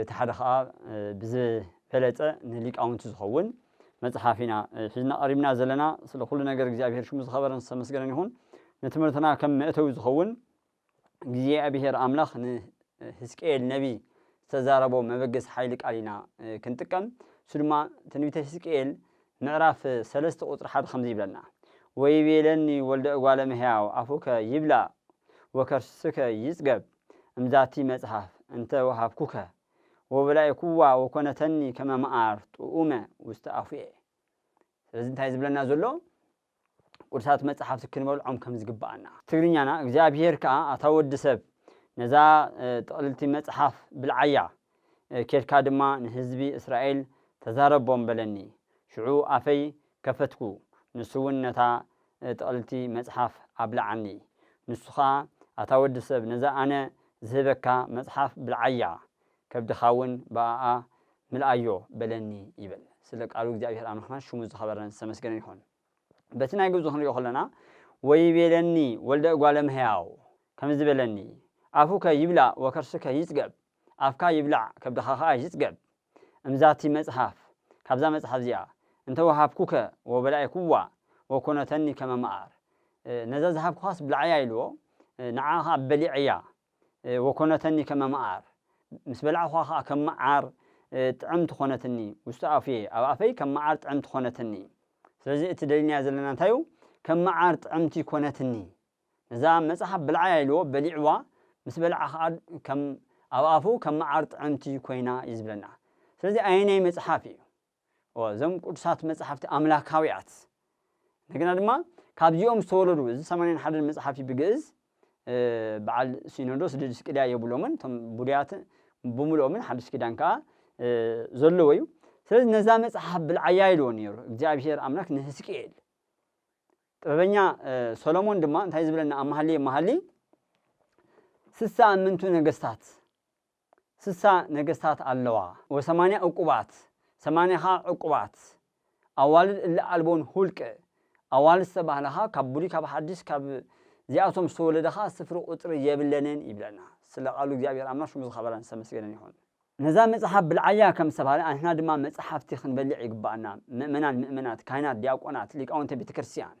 እቲ ሓደ ኸኣ ብዝበለጸ ንሊቃውንቲ ዝኸውን መጽሓፍ ኢና ሒዝና ቐሪብና ዘለና። ስለ ዅሉ ነገር እግዚኣብሄር ሽሙ ዝኸበረን ዝተመስገነን ይኹን። ንትምህርትና ከም መእተዊ ዝኸውን፣ እግዚኣብሄር ኣምላኽ ንህዝቅኤል ነብዪ ዝተዛረቦ መበገሲ ሓይሊ ቃል ኢና ክንጥቀም። እሱ ድማ ትንቢተ ህዝቅኤል ምዕራፍ ሰለስተ ቍጽሪ ሓደ ከምዚ ይብለና፣ ወይቤለኒ ወልደ እጓለ እመሕያው ኣፉከ ይብላእ ወከርስከ ይጽገብ፣ እምዛቲ መጽሐፍ እንተ ወሀብኩከ ወበላዕኩዋ ወኮነተኒ ከመ መዓር ጥዑመ ውስተ አፉየ። ስለዚ እንታይ ዝብለና ዘሎ ቅዱሳት መጽሓፍቲ ክንበልዖም ከም ዝግብኣና። ትግርኛና እግዚኣብሄር ከኣ ኣታ ወዲ ሰብ ነዛ ጥቕልልቲ መጽሓፍ ብልዓያ፣ ኬድካ ድማ ንህዝቢ እስራኤል ተዛረቦም በለኒ፣ ሽዑ ኣፈይ ከፈትኩ፣ ንሱውን ነታ ጥቕልልቲ መጽሓፍ ኣብልዓኒ። ንሱ ኸኣ፣ ኣታ ወዲ ሰብ፣ ነዛ ኣነ ዝህበካ መጽሓፍ ብልዓያ፣ ከብድኻውን ብኣኣ ምልኣዮ፣ በለኒ ይብል። ስለ ቃሉ እግዚኣብሄር ኣምላኽና ሽሙ ዝኸበረን ዝተመስገነን ይኹን። በቲ ናይ ግእዙ ክንርእዮ ከሎና፣ ወይቤለኒ ወልደ እጓለ እመሕያው፣ ከምዚ በለኒ፣ ኣፉከ ይምላእ ወከርስከ ይጽገብ፣ ኣፍካ ይብላዕ ከብድኻ ከኣ ይጽገብ እምዛቲ መጽሓፍ ካብዛ መጽሓፍ እዚኣ እንተ ወሃብኩከ ወበላዔኩዋ ወኮነተኒ ከመ መዓር ነዛ ዝሃብኩኻስ ብልዓያ ኢልዎ ንዓኣ ከኣ በሊዐያ ወኮነተኒ ከመ መዓር ምስ በላዕኩኻ ከኣ ከም መዓር ጥዕምቲ ኮነትኒ ውስተ ኣፉየ ኣብ ኣፈይ ከም መዓር ጥዕምቲ ኮነትኒ ስለዚ እቲ ደሊናዮ ዘለና እንታይ እዩ ከም መዓር ጥዕምቲ ኮነትኒ ነዛ መጽሓፍ ብልዓያ ኢልዎ በሊዕዋ ምስ በልዓ ከኣ ከም ኣብ ኣፉ ከም መዓር ጥዕምቲ ኮይና እዩ ዝብለና ስለዚ ኣየናይ መጽሓፍ እዩ እወ እዞም ቅዱሳት መጽሓፍቲ ኣምላካውያት እንደገና ድማ ካብዚኦም ዝተወለዱ እዚ ሰማንያን ሓደን መጽሓፍ እዩ ብግእዝ በዓል ሲኖዶስ ድድስቅልያ የብሎምን እቶም ቡድያት ብምልኦምን ሓድሽ ኪዳን ከኣ ዘለዎ እዩ ስለዚ ነዛ መጽሓፍ ብልዓያ ኢልዎ ነይሩ እግዚኣብሄር ኣምላክ ንህዝቅኤል ጥበበኛ ሰሎሞን ድማ እንታይ ዝብለና ኣብ መሃልየ መሃልይ ስሳ እምንቱ ነገስታት ስሳ ነገስታት ኣለዋ ወሰማንያ እቁባት ሰማንያ ኸኣ ዕቁባት ኣዋልድ እለ ኣልቦን ሁልቅ ኣዋልድ ዝተባህላ ኸኣ ካብ ብሉይ ካብ ሓዲስ ካብ ዚኣቶም ዝተወለደ ኸኣ ስፍሪ ቁጽሪ የብለንን ይብለና ስለ ቃሉ እግዚኣብሔር ኣምላክ ሽሙ ዝከበረን ዝተመስገነን ይኩን። ነዛ መጽሓፍ ብልዓያ ከም ዝተባህለ ኣንሕና ድማ መጽሓፍቲ ክንበልዕ ይግብኣና፣ ምእመናን ምእመናት፣ ካህናት ዲያቆናት፣ ሊቃውንተ ቤተ ክርስቲያን።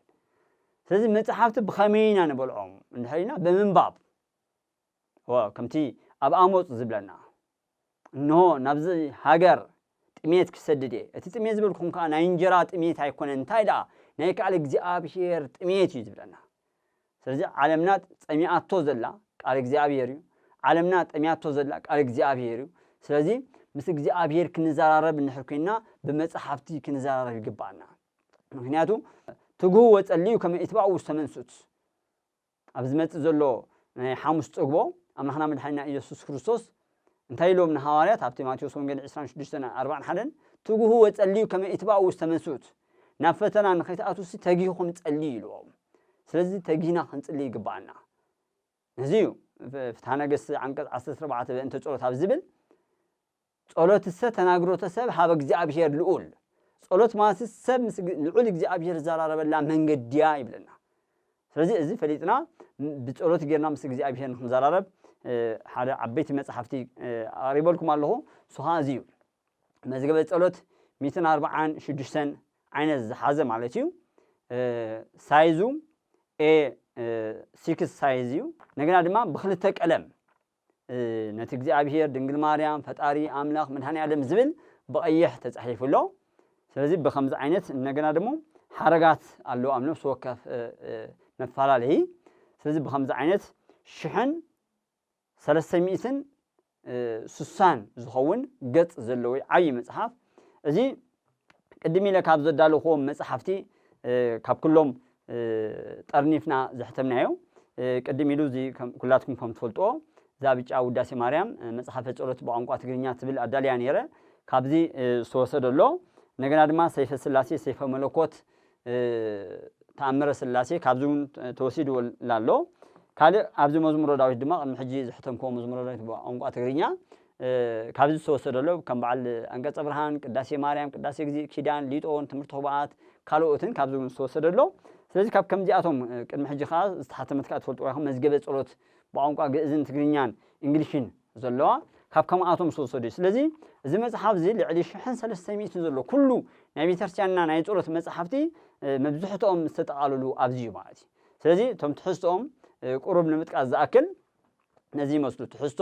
ስለዚ መጽሓፍቲ ብኸመይ ኢና ንበልዖም እንድሕር ኢልና ብምንባብ እወ ከምቲ ኣብ ኣሞጽ ዝብለና እንሆ ናብዚ ሃገር ጥሜት ክሰድድ እየ፣ እቲ ጥሜት ዝበልኩም ከኣ ናይ እንጀራ ጥሜት ኣይኮነን እንታይ ደኣ ናይ ከኣል እግዚኣብሄር ጥሜት እዩ ዝብለና። ስለዚ ዓለምና ጸሚኣቶ ዘላ ቃል እግዚኣብሔር እዩ ዓለምና ጠሚያቶ ዘላ ቃል እግዚኣብሔር እዩ ስለዚ ምስ እግዚኣብሔር ክንዘራረብ እንድሕር ኮይንና ብመጽሓፍቲ ክንዘራረብ ይግባኣና ምክንያቱ ትግሁ ወጸልዩ ከመ ኢትባኡ ውስተ መንሱት ኣብ ዝመጽእ ዘሎ ናይ ሓሙስ ጽግቦ ኣምላኽና መድሓኒና ኢየሱስ ክርስቶስ እንታይ ኢሎም ንሃዋርያት ኣብቲ ማቴዎስ ወንጌል ዕስራን ሽዱሽተን ኣርባን ሓደን ትግሁ ወጸልዩ ከመ ኢትባኡ ውስተ መንሱት ናብ ፈተና ንኸይትኣትዉሲ ተጊህኹም ጸልዩ ኢልዎም ስለዚ ተጊህና ክንጽሊ ይግብኣና ነዚ እዩ ፍትሓ ነገስት ዓንቀጽ ዓሰርተ ኣርባዕተ በእንተ ጸሎት ኣብ ዝብል ጸሎትሰ ተናግሮተ ሰብ ሃበ እግዚኣብሔር ልኡል ጸሎት ማለት ሰብ ምስ ልዑል እግዚኣብሔር ዝዘራረበላ መንገዲያ ይብለና ስለዚ እዚ ፈሊጥና ብጸሎት ጌርና ምስ እግዚኣብሄር ንኽንዘራረብ ሓደ ዓበይቲ መጽሓፍቲ ኣቕሪበልኩም ኣለኹ። እሱ ኸኣ እዚ እዩ። መዝገበ ጸሎት ሚእትን ኣርብዓን ሽዱሽተን ዓይነት ዝሓዘ ማለት እዩ። ሳይዙ ኤ ሲክስ ሳይዝ እዩ። እንደገና ድማ ብክልተ ቀለም ነቲ እግዚኣብሄር ድንግል ማርያም ፈጣሪ ኣምላኽ መድኃኔዓለም ዝብል ብቐይሕ ተጻሒፉ ኣሎ። ስለዚ ብከምዚ ዓይነት እንደገና ደሞ ሓረጋት ኣለዉ ኣብ ነፍሲ ወከፍ መፈላለዪ። ስለዚ ብከምዚ ዓይነት ሽሕን ሰለስተ ሚእትን ስሳን ዝኸውን ገጽ ዘለዎ ዓብዪ መጽሓፍ እዚ ቅድም ኢለ ካብ ዘዳለኹዎም መጻሕፍቲ ካብ ኩሎም ጠርኒፍና ዘሕተምናዮ ቅድም ኢሉ እዚ ኩላትኩም ከም ትፈልጥዎ እዛ ብጫ ውዳሴ ማርያም መጽሓፈ ጸሎት ብቋንቋ ትግርኛ ትብል ኣዳልያ ነይረ ካብዚ ዝተወሰደ ኣሎ እንደገና ድማ ሰይፈ ስላሴ ሰይፈ መለኮት ተኣምረ ሥላሴ ካብዚ እውን ተወሲዱ ኣሎ። ካልእ ኣብዚ መዝሙረ ዳዊት ድማ ቅድሚ ሕጂ ዘሕተምክዎ መዝሙረ ዳዊት ብቋንቋ ትግርኛ ካብዚ ዝተወሰደ ኣሎ። ከም በዓል ኣንቀጸ ብርሃን፣ ቅዳሴ ማርያም፣ ቅዳሴ እግዚእ፣ ኪዳን፣ ሊጦን፣ ትምህርተ ኅቡኣት ካልኦትን ካብዚ እውን ዝተወሰደ ኣሎ። ስለዚ ካብ ከምዚኣቶም ቅድሚ ሕጂ ከኣ ዝተሓተመት ከኣ ትፈልጥዋ ኢኹም መዝገበ ጸሎት ብቋንቋ ግእዝን ትግርኛን እንግሊሽን ዘሎዋ ካብ ከምኣቶም ዝተወሰዱ እዩ። ስለዚ እዚ መጽሓፍ እዚ ልዕሊ ሽሕን ሰለስተ ሚእትን ዘሎ ኩሉ ናይ ቤተክርስትያንና ናይ ጸሎት መጽሓፍቲ መብዝሕትኦም ዝተጠቓልሉ ኣብዚ እዩ ማለት እዩ። ስለዚ እቶም ትሕዝትኦም ቁሩብ ንምጥቃስ ዝኣክል ነዚ ይመስሉ ትሕዝቶ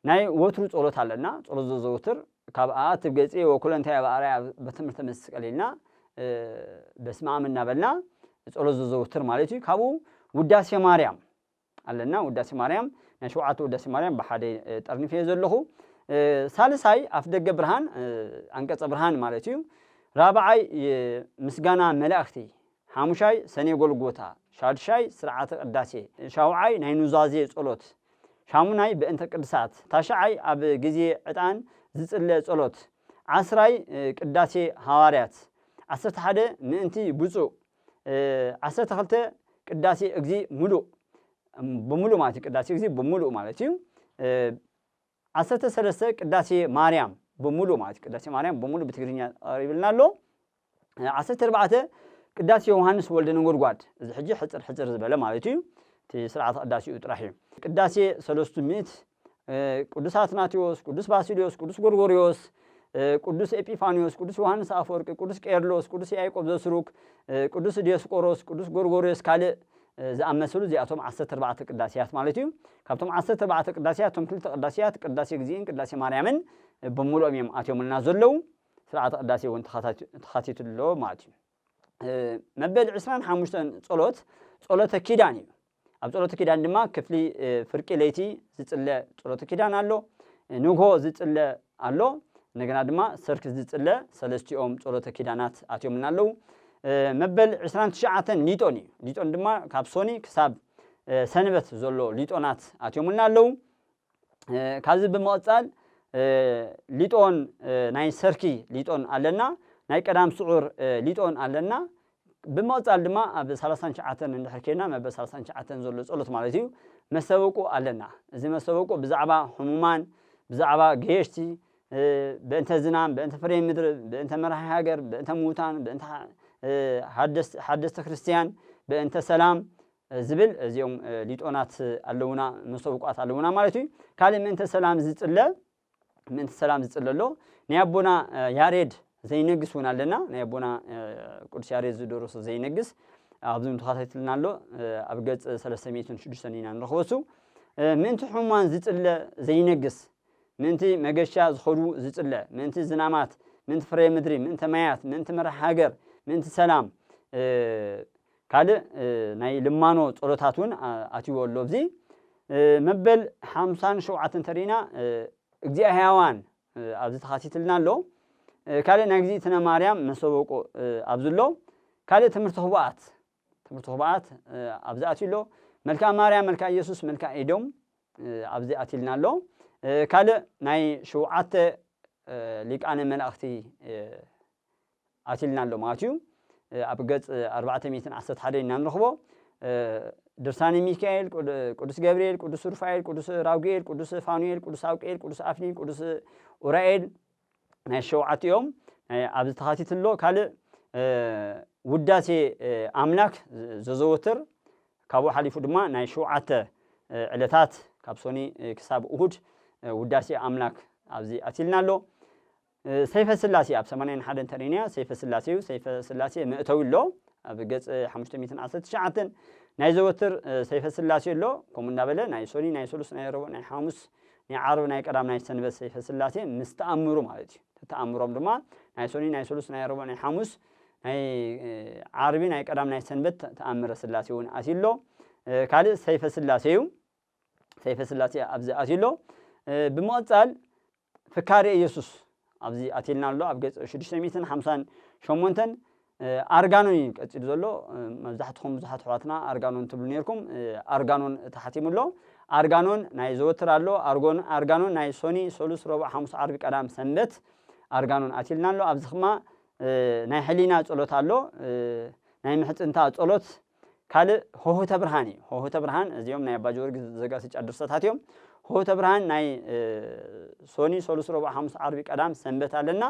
ናይ ወትሩ ጸሎት ኣለና ጸሎት ዘዘውትር ካብ ኣኣትብ ገጼ ወኩለንታይ በኣርያ በትምህርተ መስቀል ኢልና በስመ ኣም እናበልና ጸሎት ዘዘውትር ማለት እዩ። ካብኡ ውዳሴ ማርያም ኣለና ውዳሴ ማርያም ናይ ሸውዓተ ውዳሴ ማርያም ብሓደ ጠርኒፈዮ ዘለኹ ሳልሳይ ኣፍደገ ብርሃን ኣንቀጸ ብርሃን ማለት እዩ ራብዓይ ምስጋና መላእክቲ ሓሙሻይ ሰኔ ጎልጎታ ሻድሻይ ስርዓተ ቅዳሴ ሻውዓይ ናይ ኑዛዜ ጸሎት ሻሙናይ በእንተ ቅድሳት ታሽዓይ ኣብ ግዜ ዕጣን ዝጽለ ጸሎት ዓስራይ ቅዳሴ ሃዋርያት ዓሰርተ ሓደ ምእንቲ ብፁዕ ዓሰርተ ክልተ ቅዳሴ እግዚእ ምሉእ ብምሉእ ማለት እዩ ቅዳሴ እግዚእ ብምሉእ ማለት እዩ ዓሰርተ ሰለስተ ቅዳሴ ማርያም ብምሉእ ማለት እዩ ቅዳሴ ማርያም ብምሉእ ብትግርኛ ቀሪብልና ኣሎ ዓሰርተ ኣርባዕተ ቅዳሴ ዮሃንስ ወልደ ነጎድጓድ እዚ ሕጂ ሕፅር ሕፅር ዝበለ ማለት እዩ እቲ ስርዓተ ቅዳሴኡ ጥራሕ እዩ ቅዳሴ ሰለስቱ ምእት ቅዱስ ኣትናቴዎስ፣ ቅዱስ ባሲልዮስ፣ ቅዱስ ጎርጎርዮስ፣ ቅዱስ ኤጲፋንዮስ፣ ቅዱስ ዮሃንስ ኣፈወርቂ፣ ቅዱስ ቄርሎስ፣ ቅዱስ ያዕቆብ ዘስሩግ፣ ቅዱስ ዲዮስቆሮስ፣ ቅዱስ ጎርጎርዮስ ካልእ ዝኣመሰሉ እዚኣቶም ዓሰርተ ኣርባዕተ ቅዳሴያት ማለት እዩ። ካብቶም ዓሰርተ ኣርባዕተ ቅዳሴያት እቶም ክልተ ቅዳሴያት ቅዳሴ እግዚእን ቅዳሴ ማርያምን ብምሉኦም እዮም ኣትዮምልና ዘለዉ። ስርዓተ ቅዳሴ እውን ተኻቲትሉ ኣሎ ማለት እዩ። መበል ዕስራን ሓሙሽተን ጸሎት ጸሎተ ኪዳን እዩ ኣብ ጸሎተ ኪዳን ድማ ክፍሊ ፍርቂ ለይቲ ዝጽለ ጸሎተ ኪዳን ኣሎ ንግሆ ዝጽለ ኣሎ እንደገና ድማ ሰርክ ዝጽለ ሰለስቲኦም ጸሎተ ኪዳናት ኣትዮምና ኣለዉ መበል ዕስራን ትሽዓተን ሊጦን እዩ ሊጦን ድማ ካብ ሶኒ ክሳብ ሰንበት ዘሎ ሊጦናት ኣትዮምልና ኣለዉ ካብዚ ብምቕጻል ሊጦን ናይ ሰርኪ ሊጦን ኣለና፣ ናይ ቀዳም ስዑር ሊጦን ኣለና፣ ብምቕጻል ድማ ኣብ ሰላሳን ትሽዓተን እንድሕር ኬድና መበል ሰላሳን ትሽዓተን ዘሎ ጸሎት ማለት እዩ መስተበቁ ኣለና፣ እዚ መስተበቁ ብዛዕባ ሕሙማን፣ ብዛዕባ ገየሽቲ፣ በእንተ ዝናም፣ በእንተ ፍሬ ምድሪ፣ በእንተ መራሒ ሃገር፣ በእንተ ምዉታን፣ በእንተ ሓደስቲ ክርስትያን፣ በእንተ ሰላም፣ ዝብል እዚኦም ሊጦናት ኣለውና መሶብቋት ኣለውና ማለት እዩ ካልእ ምእንተ ሰላም ዝጽለ ምእንቲ ሰላም ዝጽለ ኣሎ ናይ ኣቦና ያሬድ ዘይነግስ እውን ኣለና ናይ ኣቦና ቅዱስ ያሬድ ዝደረሶ ዘይነግስ ኣብዚ ተኸታትልና ኣሎ ኣብ ገጽ 306 ኢና ንረኽበሱ ምእንቲ ሕሙማን ዝጽለ ዘይነግስ ምእንቲ መገሻ ዝኸዱ ዝጽለ ምእንቲ ዝናማት ምእንቲ ፍሬ ምድሪ ምእንቲ ማያት ምእንቲ መራሕ ሃገር ምእንቲ ሰላም ካልእ ናይ ልማኖ ጸሎታት እውን ኣትይዎ ኣሎ ኣብዚ መበል ሓምሳን ሸውዓተን ተሪኢና እግዚኣ ሕያዋን ኣብዚ ተኻቲትልና ኣሎ ካልእ ናይ እግዚእትነ ማርያም መሰበቆ ኣብዚ ኣሎ ካልእ ትምህርቲ ኹብኣት ትምህርቲ ኹብኣት ኣብዚ ኣትዩ ኣሎ መልክኣ ማርያም መልክኣ ኢየሱስ መልክኣ ኤዶም ኣብዚ ኣትይልና ኣሎ ካልእ ናይ ሸውዓተ ሊቃነ መላእኽቲ ኣትልና ኣሎ ማለት እዩ። ኣብ ገጽ ኣርባዕተ ሚእትን ዓሰርተ ሓደን ኢና ንረኽቦ። ድርሳነ ሚካኤል፣ ቅዱስ ገብርኤል፣ ቅዱስ ሩፋኤል፣ ቅዱስ ራጉኤል፣ ቅዱስ ፋኑኤል፣ ቅዱስ ኣውቅኤል፣ ቅዱስ ኣፍኒን፣ ቅዱስ ኡራኤል ናይ ሸውዓት እዮም ኣብዚ ተኻቲት ኣሎ ካልእ ውዳሴ ኣምላክ ዘዘወትር ካብኡ ሓሊፉ ድማ ናይ ሸውዓተ ዕለታት ካብ ሶኒ ክሳብ እሁድ ውዳሴ ኣምላክ ኣብዚ ኣትልና ኣሎ ሰይፈ ስላሴ ኣብ ሰማንያን ሓደን ተሪንያ ሰይፈ ስላሴዩ ሰይፈ ስላሴ መእተዊ ኣሎ ኣብ ገጽ ሓሙሽተ ሚእትን ዓሰርተ ትሽዓተን ናይ ዘወትር ሰይፈ ስላሴ ኣሎ ከምኡ እንዳበለ ናይ ሶኒ ናይ ሰሉስ ናይ ረቡዕ ናይ ሓሙስ ናይ ዓርብ ናይ ቀዳም ናይ ሰንበት ሰይፈ ስላሴ ምስ ተኣምሩ ማለት እዩ ተተኣምሮም ድማ ናይ ሶኒ ናይ ሰሉስ ናይ ረቡዕ ናይ ሓሙስ ናይ ዓርቢ ናይ ቀዳም ናይ ሰንበት ተኣምረ ስላሴ እውን ኣትዩ ኣሎ ካልእ ሰይፈ ስላሴ እዩ ሰይፈ ስላሴ ኣብዚ ኣትዩ ኣሎ ብምቕጻል ፍካሬ ኢየሱስ ኣብዚ ኣትየልና ኣሎ ኣብ ገጽ ሽዱሽተ ሚእትን ሓምሳን ሸሞንተን ኣርጋኖን እዩ ቀጺሉ ዘሎ መብዛሕትኹም ብዙሓት ኣሕዋትና ኣርጋኖን ትብሉ ነርኩም ኣርጋኖን ተሓቲሙ ኣሎ ኣርጋኖን ናይ ዘወትር ኣሎ ኣርጎን ኣርጋኖን ናይ ሶኒ ሰሉስ ረቡዕ ሓሙስ ዓርቢ ቀዳም ሰንበት ኣርጋኖን ኣትልና ኣሎ ኣብዚ ክማ ናይ ሕሊና ጸሎት ኣሎ ናይ ምሕጽንታ ጸሎት ካልእ ሆሆተ ብርሃን እዩ። ሆሆተ ብርሃን እዚኦም ናይ ኣባ ጀወርግስ ዘጋስጫ ድርሰታት እዮም። ሆሆተ ብርሃን ናይ ሶኒ፣ ሰሉስ፣ ረቡዕ፣ ሓሙስ፣ ዓርቢ፣ ቀዳም፣ ሰንበት ኣለና።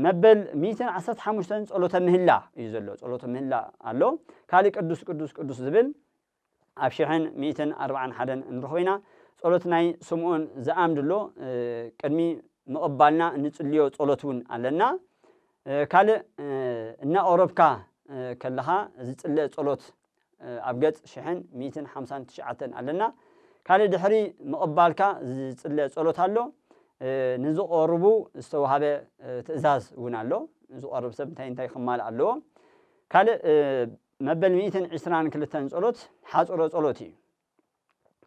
መበል ሚእትን ዓሰርተ ሓሙሽተን ጸሎተ ምህላ እዩ ዘሎ። ጸሎተ ምህላ ኣሎ። ካልእ ቅዱስ ቅዱስ ቅዱስ ዝብል ኣብ ሽሕን ሚእትን ኣርባዓን ሓደን እንረኽቦ ኢና። ጸሎት ናይ ስምዖን ዘኣምድ ኣሎ። ቅድሚ ምቕባልና እንጽልዮ ጸሎት እውን ኣለና። ካልእ እናቆረብካ ከለኻ ዝጽለ ጸሎት ኣብ ገጽ ሽሕን ሚእትን ሓምሳን ትሽዓተን ኣለና። ካልእ ድሕሪ ምቕባልካ ዝጽለ ጸሎት ኣሎ። ንዝቆርቡ ዝተዋህበ ትእዛዝ እውን ኣሎ። ዝቆርብ ሰብ እንታይ እንታይ ክማልእ ኣለዎ። ካልእ መበል ሚእትን ዕስራን ክልተን ጸሎት ሓጽሮ ጸሎት እዩ።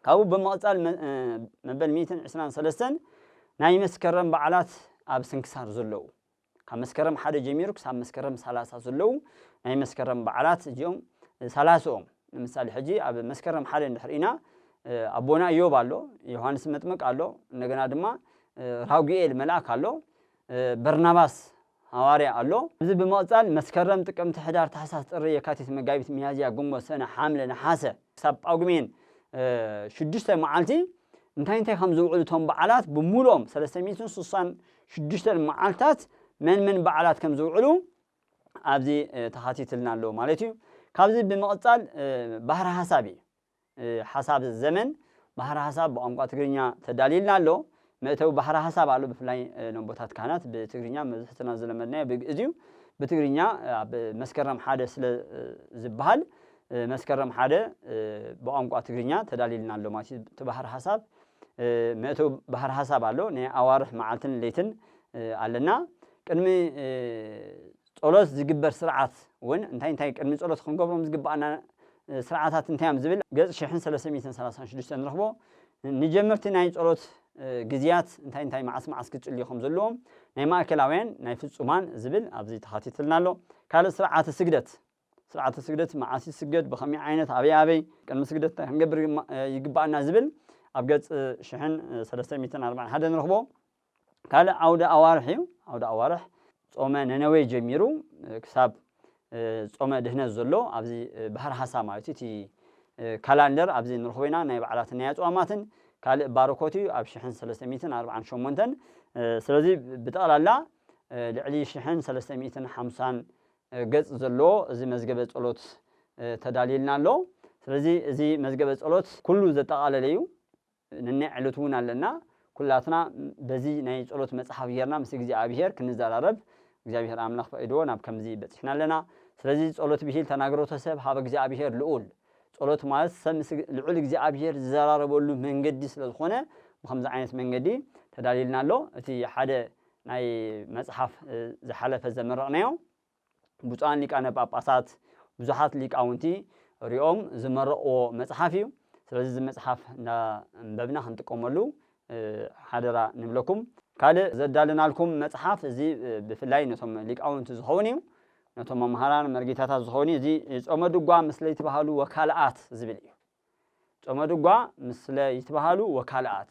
ካብኡ ብምቕፃል መበል ሚእትን ዕስራን ሰለስተን ናይ መስከረም በዓላት ኣብ ስንክሳር ዘለዉ ካብ መስከረም ሓደ ጀሚሩ ክሳብ መስከረም ሰላሳ ዘለዉ ናይ መስከረም በዓላት እዚኦም ሰላስኦም ንምሳሌ ሕጂ ኣብ መስከረም ሓደ እንድሕር ኢና ኣቦና እዮብ ኣሎ ዮሃንስ መጥምቅ ኣሎ እንደገና ድማ ራጉኤል መልኣክ ኣሎ በርናባስ ሃዋርያ ኣሎ። እዚ ብምቕጻል መስከረም፣ ጥቅምቲ፣ ሕዳር፣ ታሕሳስ፣ ጥሪ፣ የካቲት፣ መጋቢት፣ ሚያዝያ፣ ግንቦት፣ ሰነ፣ ሓምለ፣ ነሓሰ፣ ክሳብ ጳጉሜን ሽዱሽተ መዓልቲ እንታይ እንታይ ከም ዝውዕሉ እቶም በዓላት ብምሉኦም ሰለስተ ሚእትን ስሳን ሽዱሽተን መዓልትታት መን መን በዓላት ከም ዝውዕሉ ኣብዚ ተኻቲትልና ኣሎ ማለት እዩ። ካብዚ ብምቕጻል ባህሪ ሃሳብ እዩ። ሓሳብ ዘመን ባሕረ ሓሳብ ብቋንቋ ትግርኛ ተዳልዩልና ኣሎ። መእተዊ ባሕረ ሓሳብ ኣሎ ብፍላይ ነቦታት ካህናት ብትግርኛ መብዝሕትና ዝለመድናዮ ብግእዝ እዩ። ብትግርኛ ኣብ መስከረም ሓደ ስለ ዝብሃል መስከረም ሓደ ብቋንቋ ትግርኛ ተዳልዩልና ኣሎ ማለት እዩ። እቲ ባሕረ ሓሳብ መእተዊ ባሕረ ሓሳብ ኣሎ ናይ ኣዋርሕ መዓልትን ለይትን ኣለና ቅድሚ ጸሎት ዝግበር ስርዓት ውን እንታይ እንታይ ቅድሚ ጸሎት ክንገብሮም ዝግብኣና ስርዓታት እንታይ እዮም ዝብል ገጽ ሽሕን ሰለስተ ሚእትን ሰላሳን ሽዱሽተን ንረኽቦ። ንጀመርቲ ናይ ጸሎት ግዝያት እንታይ እንታይ መዓስ መዓስ ክጽልዩ ከም ዘለዎም ናይ ማእከላውያን ናይ ፍጹማን ዝብል ኣብዚ ተኻቲትልና ኣሎ። ካልእ ስርዓተ ስግደት ስርዓተ ስግደት መዓስ ይስገድ፣ ብኸመይ ዓይነት፣ ኣበይ ኣበይ፣ ቅድሚ ስግደት እንታይ ክንገብር ይግብኣና ዝብል ኣብ ገጽ ሽሕን ሰለስተ ሚእትን ኣርባዕን ሓደ ንረኽቦ። ካልእ ዓውደ ኣዋርሕ እዩ። ዓውደ ኣዋርሕ ጾመ ነነዌ ጀሚሩ ክሳብ ጾመ ድህነት ዘሎ ኣብዚ ባህር ሃሳ ማለት እዩ እቲ ካላንደር ኣብዚ ንረኽቦ ኢና ናይ በዓላትን ናይ ኣጽዋማትን ካልእ ባርኮት እዩ ኣብ ሽሕን ሰለስተ ሚእትን ኣርባዓን ሸሞንተን ስለዚ ብጠቕላላ ልዕሊ ሽሕን ሰለስተ ሚእትን ሓምሳን ገጽ ዘለዎ እዚ መዝገበ ጸሎት ተዳልዩልና ኣሎ። ስለዚ እዚ መዝገበ ጸሎት ኩሉ ዘጠቓለለ እዩ። ነናይ ዕለቱ እውን ኣለና። ኩላትና በዚ ናይ ጸሎት መጽሓፍ ጌርና ምስ እግዚኣብሄር ክንዘራረብ እግዚኣብሄር ኣምላኽ ፈቒድዎ ናብ ከምዚ በጺሕና ኣለና። ስለዚ ጸሎት ብሂል ተናግሮተ ሰብ ኀበ እግዚኣብሄር ልዑል። ጸሎት ማለት ሰብ ምስ ልዑል እግዚኣብሄር ዝዘራረበሉ መንገዲ ስለ ዝኾነ ብኸምዚ ዓይነት መንገዲ ተዳልዩልና ኣሎ። እቲ ሓደ ናይ መጽሓፍ ዝሓለፈ ዘመረቕናዮ ብፁዓን ሊቃነ ጳጳሳት ብዙሓት ሊቃውንቲ ሪኦም ዝመረቕዎ መጽሓፍ እዩ። ስለዚ እዚ መጽሓፍ እንዳንበብና ክንጥቀመሉ ሓደራ ንብለኩም። ካልእ ዘዳለናልኩም መጽሓፍ እዚ ብፍላይ ነቶም ሊቃውንቲ ዝኸውን እዩ። ነቶም መምሃራን መርጌታታት ዝኸውን እዩ። እዚ ጾመ ድጓ ምስለ ይትበሃሉ ወካልኣት ዝብል እዩ። ጾመ ድጓ ምስለ ይትበሃሉ ወካልኣት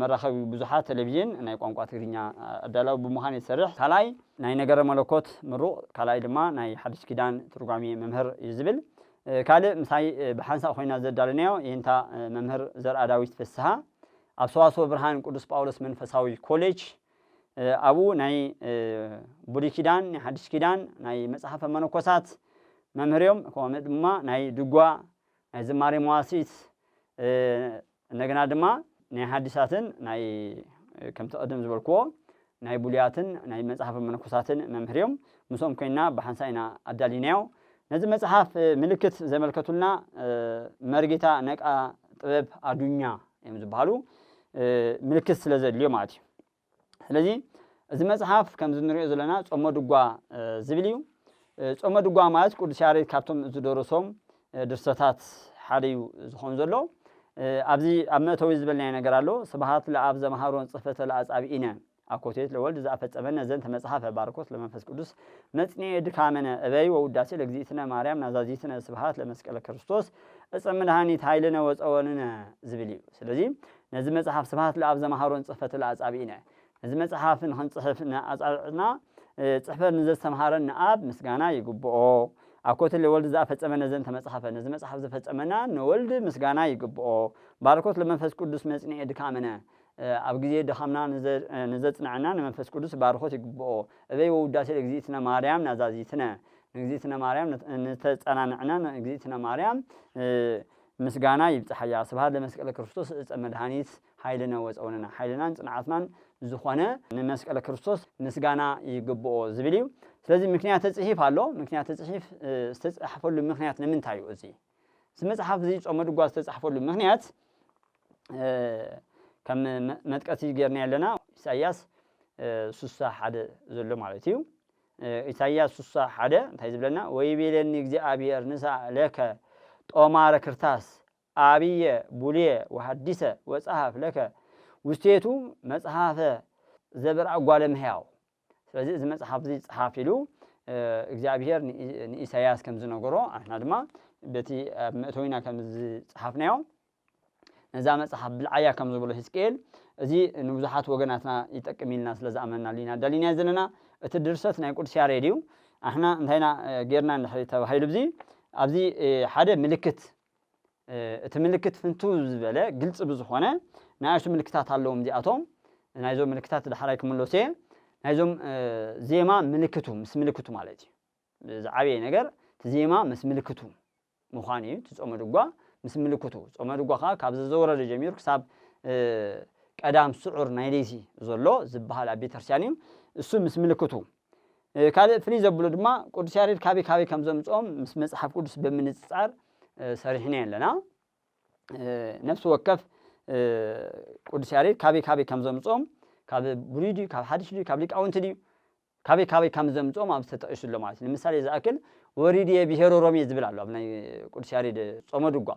መራኸቢ ብዙሓት ተለቪዥን ናይ ቋንቋ ትግርኛ ኣዳላዊ ብምዃን እየ ዝሰርሕ። ካልኣይ ናይ ነገረ መለኮት ምሩቕ፣ ካልኣይ ድማ ናይ ሓድሽ ኪዳን ትርጓሜ መምህር እዩ ዝብል። ካልእ ምሳይ ብሓንሳእ ኮይና ዘዳለናዮ የንታ መምህር ዘርኣዳዊት ፍስሃ ኣብ ሰዋስወ ብርሃን ቅዱስ ጳውሎስ መንፈሳዊ ኮሌጅ ኣብኡ ናይ ብሉይ ኪዳን ናይ ሓድሽ ኪዳን ናይ መጽሓፈ መነኮሳት መምህር እዮም። ከምኡ ድማ ናይ ድጓ ናይ ዝማሬ መዋሲት እንደገና ድማ ናይ ሓዲሳትን ናይ ከምቲ ቅድም ዝበልክዎ ናይ ብሉያትን ናይ መጽሓፈ መነኮሳትን መምህር እዮም። ምስኦም ኮይንና ብሓንሳእ ኢና ኣዳሊናዮ። ነዚ መጽሓፍ ምልክት ዘመልከቱልና መርጌታ ነቃ ጥበብ ኣዱኛ እዮም ዝበሃሉ። ምልክት ስለ ዘድልዮ ማለት እዩ። ስለዚ እዚ መጽሓፍ ከምዚ ንሪኦ ዘለና ጾመ ድጓ ዝብል እዩ ጾመ ድጓ ማለት ቅዱስ ያሬድ ካብቶም ዝደረሶም ድርሰታት ሓደ እዩ ዝኾን ዘሎ ኣብዚ ኣብ መእተዊ ዝበልናዮ ነገር ኣሎ ስብሃት ለኣብ ዘምሃሮን ጽሕፈተ ለኣጻብኢነ አኮቴት ለወልድ ዘአፈጸመነ ዘንተ መጽሐፈ ባርኮት ለመንፈስ ቅዱስ መጽንኤ ድካመነ እበይ ወውዳሴ ለእግዚእትነ ማርያም ናዛዚትነ ስብሃት ለመስቀለ ክርስቶስ እፀ መድኃኒት ኃይልነ ወፀወንነ ዝብል እዩ ስለዚ ነዚ መጽሓፍ ስብሃት ለኣብ ዘምሃሮን ጽሕፈቱለ ኣጻብኢነ ነዚ መጽሓፍ ንክንጽሕፍ ንኣጻብዕትና ጽሕፈት ንዘስተምሃረን ንኣብ ምስጋና ይግብኦ ኣኮትለ ወልድ ዘኣፈጸመ ነዘን ተመጽሓፈ ነዚ መጽሓፍ ዘፈጸመና ንወልድ ምስጋና ይግብኦ ባርኮት ለመንፈስ ቅዱስ መጽንኤ ድካምነ ኣብ ግዜ ድኻምና ንዘጽንዐና ንመንፈስ ቅዱስ ባርኮት ይግብኦ እበይ ወውዳሴ ለእግዚእትነ ማርያም ናዛዚትነ ንእግዚእትነ ማርያም ንተጸናንዕነ ንእግዚእትነ ማርያም ምስጋና ይብጻሓያ ስብሃት ለመስቀለ ክርስቶስ እፀ መድሃኒት ሃይልነ ወፀውንነ ሓይልናን ፅንዓትናን ዝኾነ ንመስቀለ ክርስቶስ ምስጋና ይግብኦ ዝብል እዩ ስለዚ ምክንያተ ፅሒፍ ኣሎ ምክንያተ ፅሒፍ ዝተፃሕፈሉ ምክንያት ንምንታይ እዩ እዚ እዚ መፅሓፍ እዚ ጾመ ድጓ ዝተፃሕፈሉ ምክንያት ከም መጥቀሲ ጌርና ኣለና ኢሳያስ ስሳ ሓደ ዘሎ ማለት እዩ ኢሳይያስ ስሳ ሓደ እንታይ ዝብለና ወይቤለኒ እግዚኣብሔር ንሳ ለከ ጦማረ ክርታስ ኣብየ ቡልየ ወሃዲሰ ወጸሃፍ ለከ ውስቴቱ መጽሐፈ ዘብርኣ ጓለ እመሕያው ስለዚ እዚ መጽሓፍ እዚ ጸሓፍ ኢሉ እግዚኣብሔር ንኢሳይያስ ከም ዝነገሮ ኣሕና ድማ በቲ ኣብ መእተዊና ከም ዝጸሓፍናዮ ነዛ መጽሓፍ ብልዓያ ከም ዝበሎ ህዝቅኤል፣ እዚ ንብዙሓት ወገናትና ይጠቅም ኢልና ስለ ዝኣመንናሉ ኢና ኣዳሊናዮ ዘለና። እቲ ድርሰት ናይ ቅዱስ ያሬድ እዩ። ኣሕና እንታይ ኢና ጌርና እንድሕሪ ተባሂሉ ብዚ ኣብዚ ሓደ ምልክት እቲ ምልክት ፍንትው ዝበለ ግልጺ ብዝኾነ ንኣሽቱ ምልክታት ኣለዎም እዚኣቶም ናይዞም ምልክታት ዳሕራይ ክምለሶ እየ ናይዞም ዜማ ምልክቱ ምስ ምልክቱ ማለት እዩ ዝዓበየ ነገር እቲ ዜማ ምስ ምልክቱ ምዃን እዩ እቲ ጾመ ድጓ ምስ ምልክቱ። ጾመ ድጓ ከኣ ካብ ዘዘወረደ ጀሚሩ ክሳብ ቀዳም ስዑር ናይ ለይቲ ዘሎ ዝበሃል ኣብ ቤተክርስትያን እዩ። እሱ ምስ ምልክቱ። ካልእ ፍልይ ዘብሎ ድማ ቅዱስ ያሬድ ካበይ ካበይ ከም ዘምጽኦም ምስ መጽሓፍ ቅዱስ ብምንጽጻር ሰሪሕናዮ ኣለና። ነፍሲ ወከፍ ቅዱስ ያሬድ ካበይ ካበይ ከም ዘምጽኦም ካብ ብሉይ ድዩ ካብ ሓድሽ ድዩ ካብ ሊቃውንቲ ድዩ ካበይ ካበይ ከም ዘምጽኦም ኣብዚ ተጠቒሱ ኣሎ ማለት እዩ። ንምሳሌ ዝኣክል ወሪድየ ብሄረ ሮሜ ዝብል ኣሎ ኣብ ናይ ቅዱስ ያሬድ ጾመ ድጓ።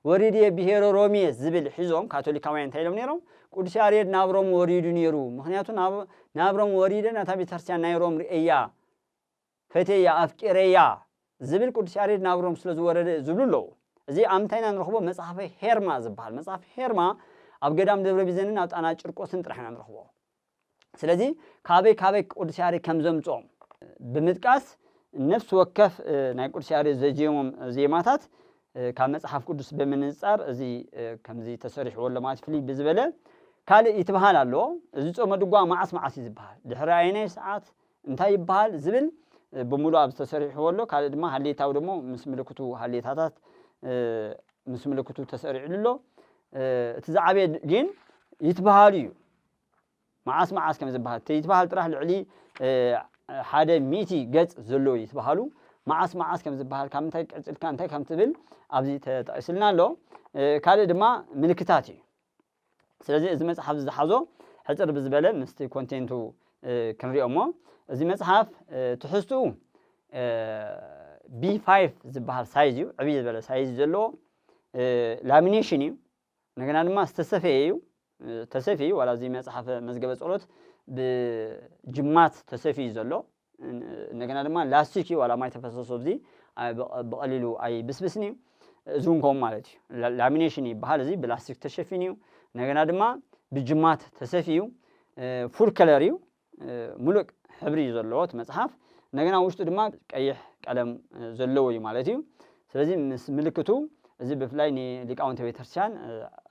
ወሪድየ ብሄረ ሮሜ ዝብል ሒዞም ካቶሊካውያን እንታይ ኢሎም ነይሮም ቅዱስ ያሬድ ናብ ሮም ወሪዱ ነይሩ ምኽንያቱ ናብ ናብ ሮም ወሪደ ናታ ቤተክርስትያን ናይ ሮም ርእየያ ፈቴያ ኣፍቂረያ ዝብል ቅዱስ ያሬድ ናብ ሮም ስለ ዝወረደ ዝብሉ ኣለዉ። እዚ ኣብ ምንታይ ኢና ንረኽቦ? መጽሓፈ ሄርማ ዝበሃል መጽሓፍ ሄርማ ኣብ ገዳም ደብረ ቢዘንን ኣብ ጣና ጭርቆስን ጥራሕ ኢና ንረኽቦ። ስለዚ ካበይ ካበይ ቅዱስ ያሬድ ከም ዘምጽኦም ብምጥቃስ ነፍሲ ወከፍ ናይ ቅዱስ ያሬድ ዘዜሞም ዜማታት ካብ መጽሓፍ ቅዱስ ብምንጻር እዚ ከምዚ ተሰሪሕዎ ኣሎ ማለት ፍልይ ብዝበለ ካልእ ይትበሃል ኣሎ እዚ ጾመ ድጓ መዓስ መዓስ እዩ ዝበሃል ድሕሪ ኣየናይ ሰዓት እንታይ ይበሃል ዝብል ብምሉእ ኣብ ዝተሰሪሕዎ ኣሎ ካልእ ድማ ሃሌታዊ ደሞ ምስ ምልክቱ ሃሌታታት ምስ ምልክቱ ተሰሪዕሉ ኣሎ እቲ ዝዓበየ ግን ይትበሃሉ እዩ መዓስ መዓስ ከም ዝበሃል ተይትበሃል ጥራሕ ልዕሊ ሓደ ሚእቲ ገጽ ዘሎ እዩ ትበሃሉ መዓስ መዓስ ከም ዝበሃል ካብ ምንታይ ቀጽልካ እንታይ ከም ትብል ኣብዚ ተጠቒስልና ኣሎ ካልእ ድማ ምልክታት እዩ ስለዚ እዚ መጽሓፍ ዝሓዞ ሕጽር ብዝበለ ምስቲ ኮንቴንቱ ክንሪኦ እሞ እዚ መጽሓፍ ትሕዝትኡ ቢ ፋይቭ ዝበሃል ሳይዝ እዩ ዕብይ ዝበለ ሳይዝ ዘለዎ ላሚኔሽን እዩ እንደገና ድማ ዝተሰፈየ እዩ ተሰፊዩ ዋላ እዚ መጽሓፈ መዝገበ ጸሎት ብጅማት ተሰፊዩ ዘሎ እንደገና ድማ ላስቲክ እዩ ዋላ ማይ ተፈሰሶ ኣብዚ ብቐሊሉ ኣይብስብስን እዩ እዚ እውን ከምኡ ማለት እዩ ላሚኔሽን ይበሃል እዚ ብላስቲክ ተሸፊኑ እዩ እንደገና ድማ ብጅማት ተሰፊዩ ፉል ከለር እዩ ምሉእ ሕብሪ እዩ ዘለዎ እቲ መጽሓፍ እንደገና ኣብ ውሽጡ ድማ ቀይሕ ቀለም ዘለዎ እዩ ማለት እዩ ስለዚ ምስ ምልክቱ እዚ ብፍላይ ንሊቃውንተ ቤተክርስቲያን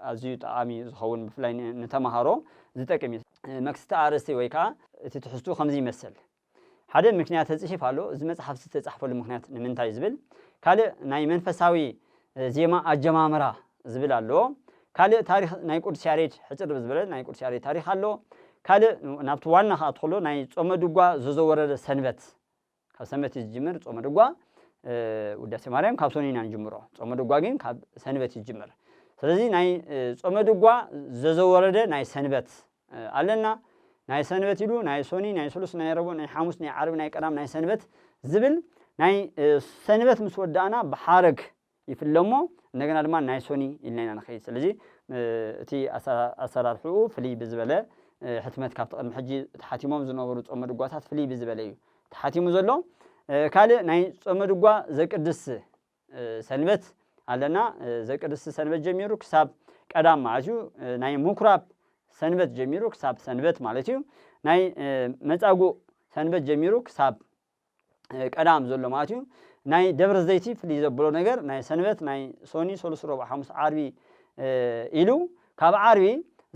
ኣዝዩ ጠቓሚ እዩ ዝኸውን ብፍላይ ንተምሃሮ ዝጠቅም እዩ መክስቲ ኣርእስቲ ወይ ከዓ እቲ ትሕዝቱ ከምዚ ይመሰል ሓደ ምክንያተ ጽሒፍ ኣሎ እዚ መጽሓፍ ዝተጻሕፈሉ ምክንያት ንምንታይ ዝብል ካልእ ናይ መንፈሳዊ ዜማ ኣጀማምራ ዝብል ኣሎ ካልእ ታሪኽ ናይ ቁዱስ ያሬድ ሕጽር ብዝበለ ናይ ቁዱስ ያሬድ ታሪኽ ኣሎ ካልእ ናብቲ ዋና ክኣ ትኸሎ ናይ ጾመ ድጓ ዘዘወረደ ሰንበት ካብ ሰንበት እዩ ዝጅምር ጾመ ድጓ ውዳሴ ማርያም ካብ ሶኒ ኢና ንጅምሮ ጾመ ድጓ ግን ካብ ሰንበት እዩ ዝጅምር ስለዚ ናይ ጾመ ድጓ ዘዘወረደ ናይ ሰንበት ኣለና ናይ ሰንበት ኢሉ ናይ ሶኒ ናይ ስሉስ ናይ ረቡእ ናይ ሓሙስ ናይ ዓርቢ ናይ ቀዳም ናይ ሰንበት ዝብል ናይ ሰንበት ምስ ወዳእና ብሓረግ ይፍለ እሞ እንደገና ድማ ናይ ሶኒ ኢልና ኢና ንኸይድ ስለዚ እቲ ኣሰራርሕኡ ፍልይ ብዝበለ ሕትመት ካብቲ ቅድሚ ሕጂ ተሓቲሞም ዝነበሩ ጾመ ድጓታት ፍልይ ብዝበለ እዩ ተሓቲሙ ዘሎ ካልእ ናይ ጾመ ድጓ ዘቅድስ ሰንበት ኣለና ዘቅድስቲ ሰንበት ጀሚሩ ክሳብ ቀዳም ማለት እዩ ናይ ምኩራብ ሰንበት ጀሚሩ ክሳብ ሰንበት ማለት እዩ ናይ መጻጉእ ሰንበት ጀሚሩ ክሳብ ቀዳም ዘሎ ማለት እዩ ናይ ደብረ ዘይቲ ፍልይ ዘብሎ ነገር ናይ ሰንበት ናይ ሶኒ ሰሉስ ሮብ ሓሙስ ዓርቢ ኢሉ ካብ ዓርቢ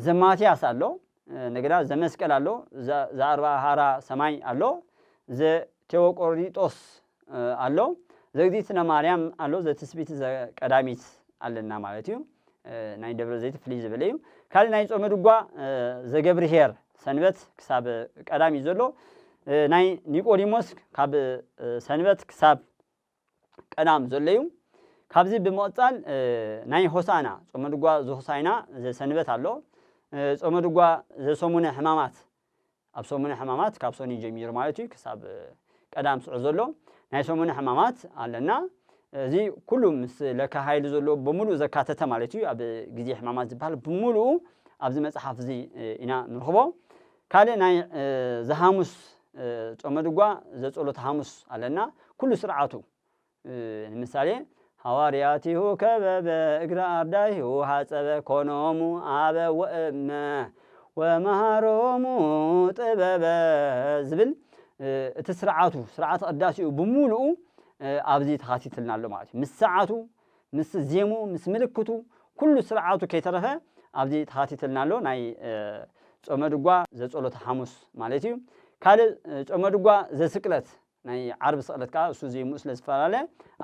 ዘማትያስ ኣሎ እንደገና ዘመስቀል ኣሎ፣ ዘኣርብዓ ሀራ ሰማይ ኣሎ፣ ዘቴዎቆሪጦስ ኣሎ፣ ዘእግዝእትነ ማርያም ኣሎ፣ ዘትስብእቲ ዘቀዳሚት ኣለና ማለት እዩ። ናይ ደብረ ዘይት ፍልይ ዝበለ እዩ ካልእ ናይ ጾመ ድጓ ዘገብርሄር ሰንበት ክሳብ ቀዳም እዩ ዘሎ ናይ ኒቆዲሞስ ካብ ሰንበት ክሳብ ቀዳም ዘሎ እዩ። ካብዚ ብምቕጻል ናይ ሆሳእና፣ ጾመ ድጓ ዘሆሳእና፣ ዘሰንበት ኣሎ። ጾመ ድጓ ዘሰሙነ ሕማማት፣ ኣብ ሰሙነ ሕማማት ካብ ሰኑይ ጀሚሩ ማለት እዩ ክሳብ ቀዳም ስዑ ዘሎ ናይ ሰሙነ ሕማማት ኣለና። እዚ ኩሉ ምስ ለካ ሃይሉ ዘሎ ብምሉእ ዘካተተ ማለት እዩ። ኣብ ግዜ ሕማማት ዝበሃል ብምሉኡ ኣብዚ መጽሓፍ እዚ ኢና ንረኽቦ። ካልእ ናይ ዘሃሙስ ጾመ ድጓ ዘጸሎተ ሃሙስ ኣለና ኩሉ ስርዓቱ ንምሳሌ ሃዋርያቲሁ ከበበ እግረ ኣርዳኢሁ ሃጸበ ኮኖሙ ኣበ ወእመ ወመሃሮሙ ጥበበ ዝብል እቲ ስርዓቱ ስርዓተ ቅዳሴኡ ብሙሉኡ ኣብዚ ተኻቲትልና ኣሎ ማለት እዩ ምስ ሰዓቱ ምስ ዜሙ ምስ ምልክቱ ኩሉ ስርዓቱ ከይተረፈ ኣብዚ ተኻቲትልና ኣሎ ናይ ጾመ ድጓ ዘጸሎተ ሓሙስ ማለት እዩ ካልእ ጾመ ድጓ ዘስቅለት ናይ ዓርቢ ስቕለት ከዓ እሱ ዜሙ ስለ ዝፈላለ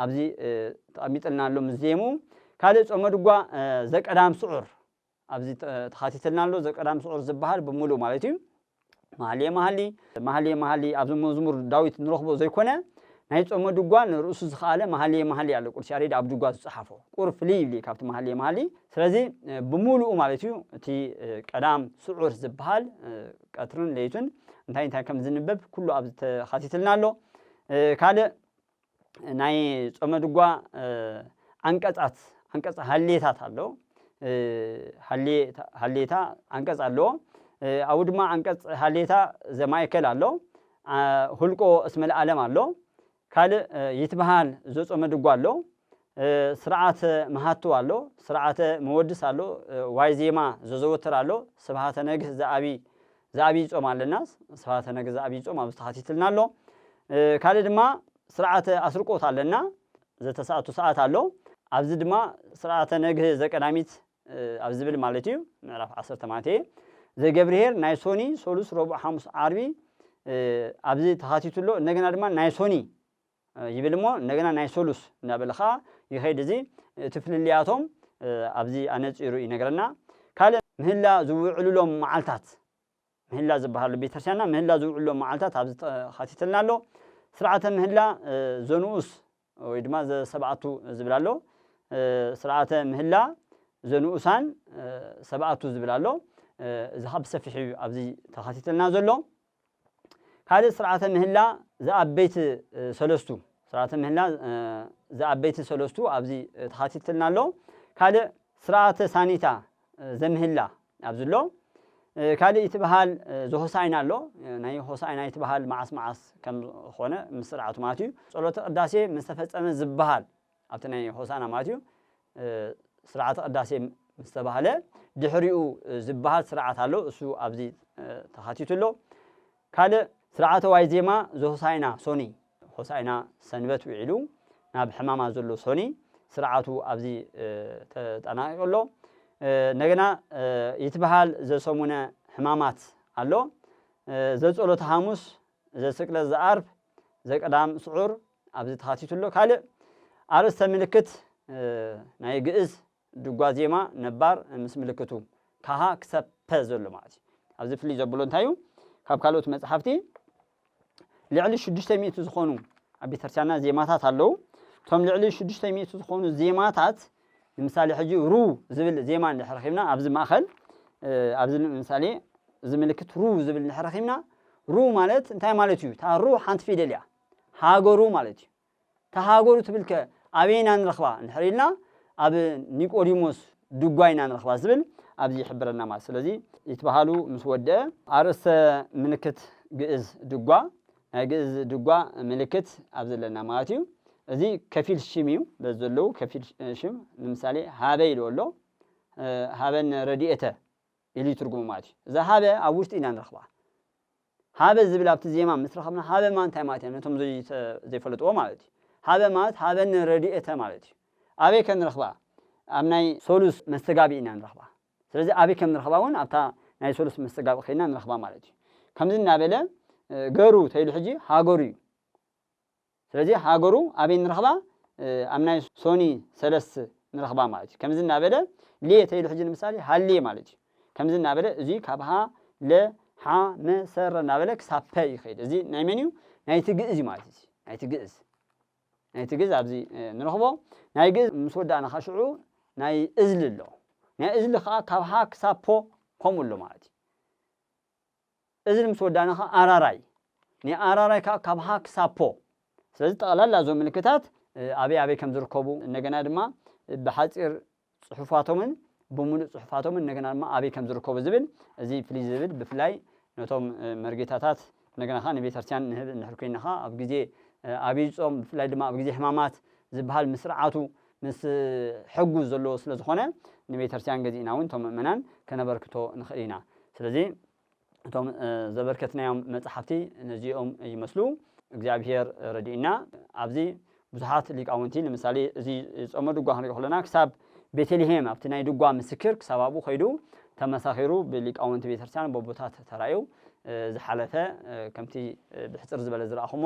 ኣብዚ ተቐሚጥልና ኣሎ ምስ ዜሙ ካልእ ጾመ ድጓ ዘቀዳም ስዑር ኣብዚ ተኻቲትልና ኣሎ ዘቀዳም ስዑር ዝበሃል ብምሉኡ ማለት እዩ መሃልየ መሃሊ መሃልየ መሃሊ ኣብዚ መዝሙር ዳዊት ንረኽቦ ዘይኮነ ናይ ጾመ ድጓ ንርእሱ ዝኸኣለ መሃልየ መሃሊ ኣሎ ቅዱስ ያሬድ ኣብ ድጓ ዝጸሓፎ ቁር ፍልይ ይብል ካብቲ መሃልየ መሃሊ ስለዚ ብምሉኡ ማለት እዩ እቲ ቀዳም ስዑር ዝበሃል ቀትርን ለይቱን እንታይ እንታይ ከም ዝንበብ ኩሉ ኣብዚ ተኻቲትልና ኣሎ ካልእ ናይ ጾመ ድጓ ዓንቀጻት ዓንቀጽ ሃሌታት ኣሎ ሃሌታ ዓንቀጽ ኣለዎ ኣብኡ ድማ ዓንቀጽ ሃሌታ ዘማእከል ኣሎ ሁልቆ እስመ ለዓለም ኣሎ ካልእ ይትበሃል ዘጾመ ድጓ ኣሎ ስርዓተ መሃትው ኣሎ፣ ስርዓተ መወድስ ኣሎ፣ ዋይዜማ ዘዘወትር ኣሎ፣ ስብሃተ ነግህ ዘኣብይ ዘኣብይ ጾም ኣለና፣ ስብሃተ ነግህ ዘኣብይ ጾም ኣብዚ ተኻቲትልና ኣሎ። ካልእ ድማ ስርዓተ ኣስርቆት ኣለና፣ ዘተሰኣቱ ሰዓት ኣሎ፣ ኣብዚ ድማ ስርዓተ ነግህ ዘቀዳሚት ኣብ ዝብል ማለት እዩ ምዕራፍ ዓሰርተ ማለት እየ ዘገብርሄር ናይ ሶኒ ሶሉስ ረቡዕ ሓሙስ ዓርቢ ኣብዚ ተኻቲቱ ኣሎ። እንደገና ድማ ናይ ሶኒ ይብል እሞ እንደገና ናይ ሰሉስ እንዳበለ ከኣ ይኸይድ እዚ እቲ ፍልልያቶም ኣብዚ ኣነጺሩ ይነግረና ካልእ ምህላ ዝውዕሉሎም መዓልታት ምህላ ዝበሃሉ ኣብ ቤተክርስትያንና ምህላ ዝውዕሉሎም መዓልታት ኣብዚ ተኻቲትልና ኣሎ ስርዓተ ምህላ ዘንኡስ ወይ ድማ ዘሰብኣቱ ዝብል ኣሎ ስርዓተ ምህላ ዘንኡሳን ሰብኣቱ ዝብል ኣሎ እዚ ከኣ ብሰፊሕ እዩ ኣብዚ ተኻቲትልና ዘሎ ካልእ ስርዓተ ምህላ ዘኣበይቲ ሰለስቱ ስርዓተ ምህላ ዘኣበይቲ ሰለስቱ ኣብዚ ተኻቲትልና ኣሎ። ካልእ ስርዓተ ሳኒታ ዘምህላ ኣብዚ ኣሎ። ካልእ ይትበሃል ዘሆሳኢና ኣሎ። ናይ ሆሳኢና ይትበሃል መዓስ መዓስ ከም ኾነ ምስ ስርዓቱ ማለት እዩ። ጸሎተ ቅዳሴ ምስ ተፈጸመ ዝበሃል ኣብቲ ናይ ሆሳእና ማለት እዩ ስርዓተ ቅዳሴ ምስ ተባህለ ድሕሪኡ ዝበሃል ስርዓት ኣሎ፣ እሱ ኣብዚ ተኻቲቱ ኣሎ። ካልእ ስርዓተ ዋይዜማ ዘሆሳእና ሶኒ፣ ሆሳእና ሰንበት ውዒሉ ናብ ሕማማት ዘሎ ሶኒ ስርዓቱ ኣብዚ ተጠናቒቑ ኣሎ። እንደገና ይትበሃል ዘሰሙነ ሕማማት ኣሎ፣ ዘጸሎተ ሓሙስ፣ ዘስቅለት፣ ዘኣርብ፣ ዘቀዳም ስዑር፣ ኣብዚ ተኻቲቱ ኣሎ። ካልእ ኣርእስተ ምልክት ናይ ግእዝ ድጓ ዜማ ነባር ምስ ምልክቱ ካሃ ክሰብ ፐ ዘሎ ማለት እዩ። ኣብዚ ፍልይ ዘብሎ እንታይ እዩ? ካብ ካልኦት መጽሓፍቲ ልዕሊ ሽዱሽተ ሚእቲ ዝኾኑ ኣብ ቤተክርስቲያንና ዜማታት ኣለዉ። እቶም ልዕሊ ሽዱሽተ ሚእቲ ዝኾኑ ዜማታት ንምሳሌ ሕጂ ሩ ዝብል ዜማ እንድሕር ረኺብና ኣብዚ ማእኸል ኣብዚ ምሳሌ እዚ ምልክት ሩ ዝብል እንድሕር ረኺብና ሩ ማለት እንታይ ማለት እዩ? እታ ሩ ሓንቲ ፊደል እያ። ሃገሩ ማለት እዩ። እታ ሃገሩ ትብል ከ ኣበይ ኢና ንረኽባ እንድሕር ኢልና ኣብ ኒቆዲሞስ ድጓ ኢና ንረኽባ ዝብል ኣብዚ ይሕብረና ማለት ስለዚ ይትበሃሉ ምስ ወደአ ኣርእስተ ምልክት ግእዝ ድጓ ናይ ግእዝ ድጓ ምልክት ኣብ ዘለና ማለት እዩ። እዚ ከፊል ሽም እዩ በዚ ዘለዉ ከፊል ሽም ንምሳሌ ሃበ ኢሉ ኣሎ ሃበን ረድኤተ ኢሉ ይትርጉሙ ማለት እዩ እዛ ሃበ ኣብ ውሽጢ ኢና ንረኽባ ሃበ ዝብል ኣብቲ ዜማ ምስ ረኸብና ሃበ ማለት እንታይ ማለት እያ ነቶም ዘይፈለጥዎ ማለት እዩ ሃበ ማለት ሃበኒ ረዲኤተ ማለት እዩ ኣበይ ከ ንረኽባ ኣብ ናይ ሶሉስ መስተጋብኢ ኢና ንረኽባ ስለዚ ኣበይ ከም ንረኽባ ውን ኣብታ ናይ ሶሉስ መስተጋብኢ ከይድና ንረኽባ ማለት እዩ ከምዚ እናበለ ገሩ ተይሉ ሕጂ ሃገሩ እዩ። ስለዚ ሃገሩ ኣበይ ንረኽባ ኣብ ናይ ሶኒ ሰለስት ንረኽባ ማለት እዩ ከምዚ እናበለ ሌ ተይሉ ሕጂ ንምሳሌ ሃሌ ማለት እዩ ከምዚ እናበለ እዙይ ካብ ሃ ለ ሓ መ ሰ ረ እናበለ ክሳብ ፐ ይኸይድ እዚ ናይ መን እዩ ናይቲ ግእዝ እዩ ማለት እዩ ናይቲ ግእዝ ናይቲ ግእዝ ኣብዚ ንረኽቦ ናይ ግእዝ ምስ ወዳእና ከ ሽዑ ናይ እዝሊ ኣሎ ናይ እዝሊ ከዓ ካብ ሃ ክሳብ ፖ ከምኡ ኣሎ ማለት እዩ እዝን ምስ ወዳእና ከኣ ኣራራይ ናይ ኣራራይ ከኣ ካብ ሃ ክሳብ ፖ ስለዚ ጠቕላላ እዞም ምልክታት ኣበይ ኣበይ ከም ዝርከቡ እንደገና ድማ ብሓጺር ጽሑፋቶምን ብምሉእ ጽሑፋቶምን እንደገና ድማ ኣበይ ከም ዝርከቡ ዝብል እዚ ፍልይ ዝብል ብፍላይ ነቶም መርጌታታት እንደገና ከኣ ንቤተክርስትያን ንህብ እንድሕር ኮይና ከኣ ኣብ ግዜ ኣብይ ጾም ብፍላይ ድማ ኣብ ግዜ ሕማማት ዝበሃል ምስ ስርዓቱ ምስ ሕጉዝ ዘለዎ ስለ ዝኾነ ንቤተርስትያን ገዚእና ውን ቶም ምእመናን ከነበርክቶ ንኽእል ኢና ስለዚ እቶም ዘበርከትናዮም መጽሓፍቲ ነዚኦም ይመስሉ እግዚኣብሄር ረዲእና ኣብዚ ብዙሓት ሊቃውንቲ ንምሳሌ እዚ ጾመ ድጓ ክንሪኦ ከሎና ክሳብ ቤተልሄም ኣብቲ ናይ ድጓ ምስክር ክሳብ ኣብኡ ከይዱ ተመሳኺሩ ብሊቃውንቲ ቤተርስትያን በቦታት ተራእዩ ዝሓለፈ ከምቲ ብሕጽር ዝበለ ዝረኣኹሞ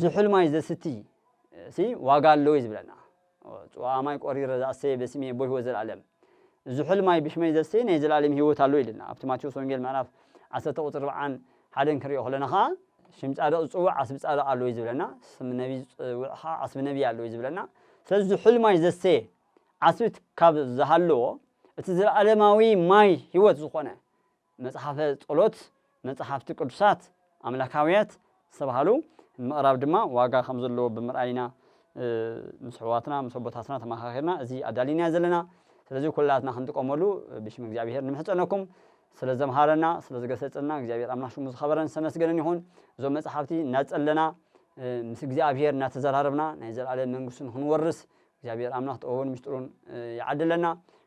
ዝሑል ማይ ዘስቲ ሲ ዋጋ ኣለዎ እዩ ዝብለና ጽዋኣ ማይ ቆሪረ ዝኣሰየ በስሚ ኣቦ ህይወት ዘልኣለም ዝሑል ማይ ብሽመይ ዘሰየ ናይ ዘልኣለም ህይወት ኣለዎ ኢልና ኣብቲ ማቴዎስ ወንጌል ምዕራፍ ዓሰርተ ቁጽሪ ኣርብዓን ሓደን ክንሪኦ ከለና ከኣ ሽም ጻድቕ ዝጽውዕ ዓስቢ ጻድቕ ኣለዎ እዩ ዝብለና ስም ነቢ ዝጽውዕ ከኣ ዓስቢ ነቢ ኣለዎ እዩ ዝብለና ስለዚ ዝሑል ማይ ዘሰየ ዓስቢ ካብ ዝሃለዎ እቲ ዘልኣለማዊ ማይ ህይወት ዝኾነ መጽሓፈ ጸሎት፣ መጻሕፍቲ ቅዱሳት ኣምላካውያት ዝተባህሉ ንምቕራብ ድማ ዋጋ ከም ዘለዎ ብምርኣይ ኢና ምስ ኣሕዋትና ምስ ኣቦታትና ተመኻኺርና እዚ ኣዳሊናዮ ዘለና። ስለዚ ኩላትና ክንጥቀመሉ ብሽም እግዚኣብሄር ንምሕጸነኩም። ስለ ዘምሃረና ስለ ዝገሰጸና እግዚኣብሄር ኣምላኽ ሽሙ ዝኸበረን ዝተመስገነን ይኹን። እዞም መጽሓፍቲ እናጸለና ምስ እግዚኣብሄር እናተዘራረብና ናይ ዘለኣለም መንግስቱ ንኽንወርስ እግዚኣብሔር ኣምላኽ ጥበቡን ምስጢሩን ይዓድለና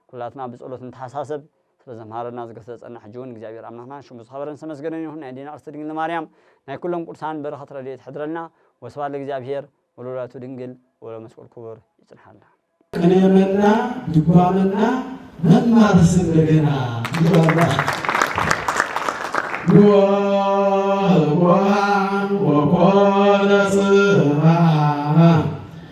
ኩላትና ብጸሎት ንተሓሳሰብ ስለዘምሃረና ዝገሰጸና ሕጂ ውን እግዚኣብሔር ኣምላኽና ሽሙ ዝኸበረን ዝተመስገነን ይኹን ናይ ኣዴና ቅድስቲ ድንግል ማርያም ናይ ኩሎም ቅዱሳን በረኸት ረድኤት ይሕድረልና ወስብሐት ለእግዚኣብሔር ወለወላዲቱ ድንግል ወለመስቀሉ ክቡር ይጽንሓልና። ቅኔ መና ድጓ መና መማርስ እንደገና ይበርባል ንወሃ ወኮነ ጽባሕ